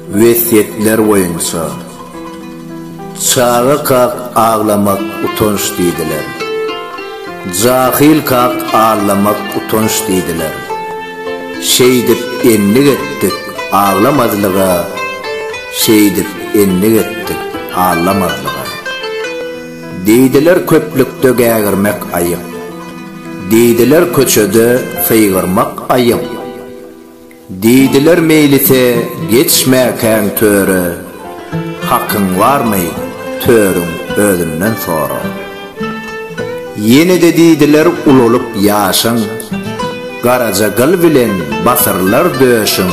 Wesýetler boýunça, Çaga kak aglamak utanç diýdiler. Jahyl kak aglamak utanç diýdiler. Şeýdip endik etdik aglamazlyga, Şeýdip endik etdik aglamazlyga. Diýdiler köplükde gägirmek aýyp, Diýdiler köçede sygyrmak aýyp. Diýdiler meýlise geçmäkäň töre, Hakyň barmy, törüň özünden sora. Ýene-de diýdiler ulalyp ýaşyň, Garaja gyl bilen basyrlar döşüň.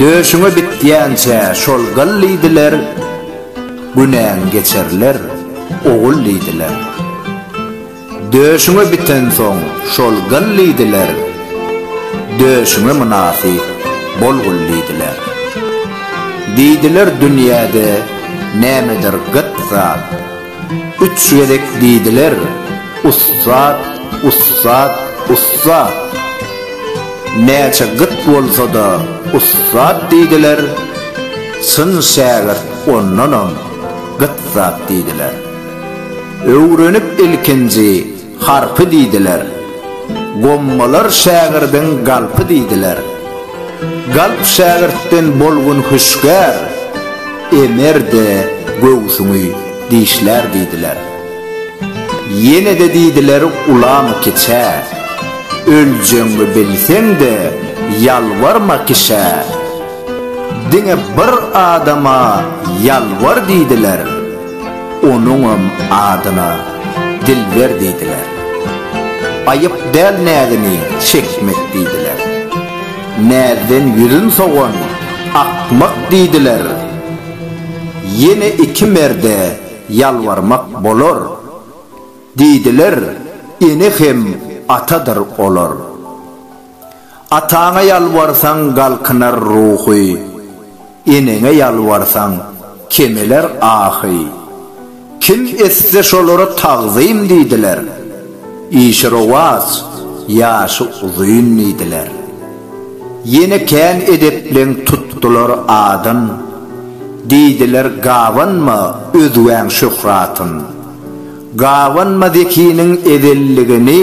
Döşüňe bitýänçä şol gyl diýdiler, Günäň geçerler, ogul diýdiler. Döşüňe bitensoň şol gyl diýdiler, Döşüňe mynasyp bol gul diýdiler. Diýdiler dünýäde nämedir gyt zat, Üç gezek diýdiler, Ussat, ussat, ussat. Näçe gyt bolsa-da ussat diýdiler, Çyn şägirt ondanam gyt zat diýdiler. Öwrenip ilkinji harpy diýdiler. Gommalar şägirdiň galpy diýdiler. Galp şägirtden bolgun hüşgär, Emer-de göwsüňi dişlär diýdiler. Ýene-de diýdiler ulamy kiçä, Öljegiňi bilseň-de ýalbarma kişä. Diňe bir adama ýalbar diýdiler. Onuňam adyna Dilber diýdiler. Aýyp däl näzini çekmek diýdiler. Näzden ýüzün sowan akmak diýdiler. Ýene iki merde ýalbarmak bolar. Diýdiler, ene hem atadyr olar. Ataňa ýalbarsaň galkynar ruhy, Eneňe ýalbarsaň kemeler ahy. Kim etse şolara tagzym diýdiler, Işi rowaç, ýaşy uzyn diýdiler. Ýene kän edepleň tutdular adyn, Diýdiler gabanma özgäň şöhratyn. Gabanma zekiniň ezelligini.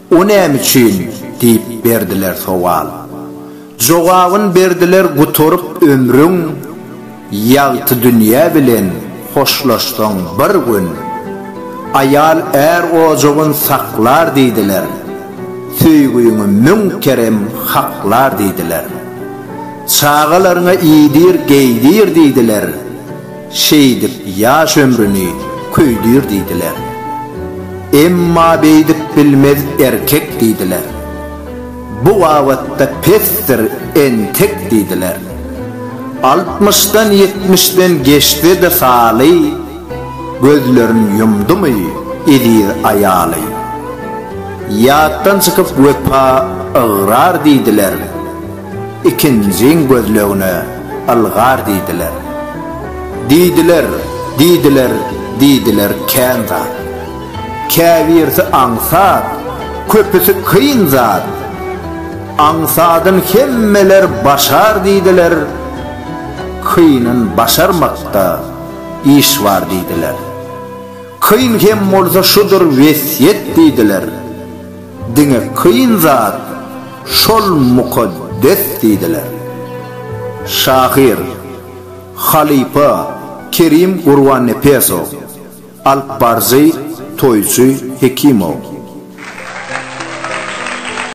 O näme üçin? diýip berdiler sowal. Jogabyn berdiler Gutaryp ömrüň, Ýagty dünýä bilen hoşlaşsaň bir gün, Aýal är ojagyn saklar diýdiler, Söýgüňi müň kerem haklar diýdiler. Çagalaryňa iýdir, geýdir diýdiler. Şeýdip ýaş ömrüni köýdür diýdiler. Emma beýdip bilmez erkek diýdiler. Bu babatda pesdir entek diýdiler. Altmyşdan ýetmişden geçse-de saly, gözlerin ýumdumy eziz aýaly. Ýatdan çykyp wepa ygrar diýdiler. Ikinjiň gözlegine ylgar diýdiler. Diýdiler, diýdiler, diýdiler kän zat. Käbirsi aňsat, köpüsi kyn zat. Aňsadyn hemmeler başar diýdiler, kynyn başarmakda iş bar diýdiler. Kyn hem bolsa şudur wesýet diýdiler. Diňe kyn zat şol mukaddes diýdiler. Şahyr, halypa Kerim Gurbannepesow, alypbaryjy Toýçy Hekimow.